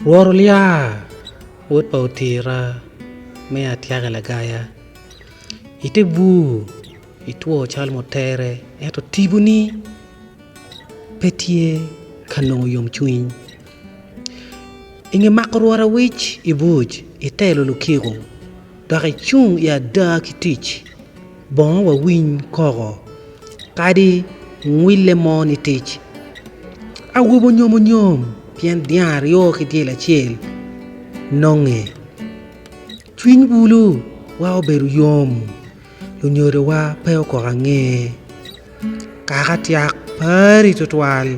Wor olya, wod pa otira, me atyaka lagaya. Ite bur itwo calo mutere, ento tiponi pe tye ka nongo yomcwiny. I nge mako rwot awic i buc, itelo lukiko. dok icung i ada ki tic bongo wawiny koko kadi ngwille mo ni tic awobi onyom onyom pien dyang aryo ki dyel acel nonge cwiny bulu wa obedo yom lunyodo wa pe okoko ange kaka tyak pari twatwal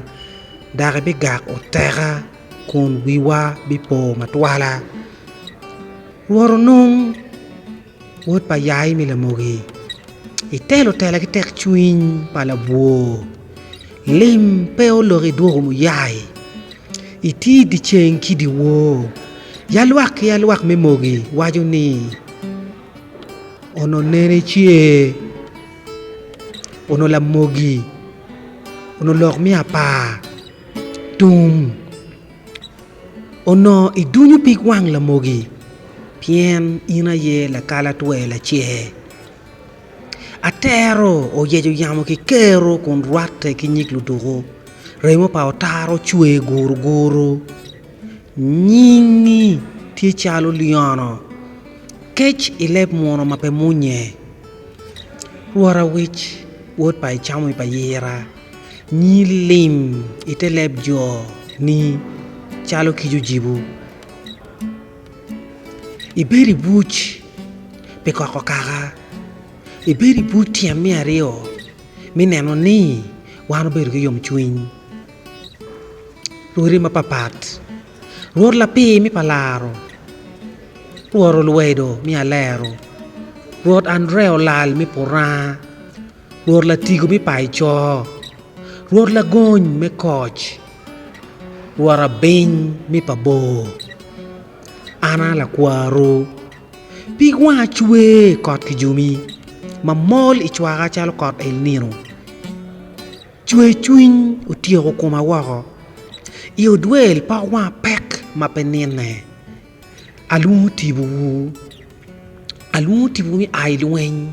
dok ibigak oteka. kun wiwa bipo matwala. Rwot onong wod pa yai me lamogi, itelo tela ki tekcwiny pa labwor, lim pe olok idwogo muyai, iti dyeceng ki dyewor. Ya lwak ki ya lwak me mogi waco ni, Onongo nene ice, onongo lamogi, onongo lok me apar. Tum, Onongo idunyo pig wang lamogi pien in aye lakalatwe lacer. Atero oyeco yamo ki kero kun rwatte ki nyig luduku, remo pa otara ocwe guruguru. Nyingi tye calo lyono, kec i leb muno ma pe munye. Rwot awic, wod pa icamo i pa yira. Nyi lim i te leb jo-ni calo kic ocibo. Ibed i buc pi koko kaka. Ibed i buc tyen me aryo me neno ni wan obedo ki yomcwiny. Rwodi mapapat, Rwod lapir me pa laro, Rwod olwedo me alero, Rwod Andre olal me puranga. Rwot latigo me payo coo. Rwot lagony me koc. Rwot abiny me pa bor. An a lakwaru. Pig wanga cwe i kot kijomi, mamol i cwaka calo kot el nino. Cwercwiny otyeko koma woko, i odwel pok wanga pek ma pe nine. Alwongo tipowu, alwongo tipowu me a i lweny.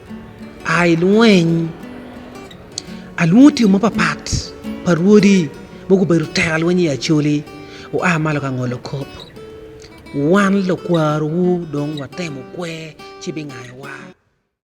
A i lweny, alwongo tiyo mapapat pa rwodi ma gubedo teka lweny i Acholi oa malo ka ngolo kop. Wan lukwarowu dong watemo kwer ci bingayowa.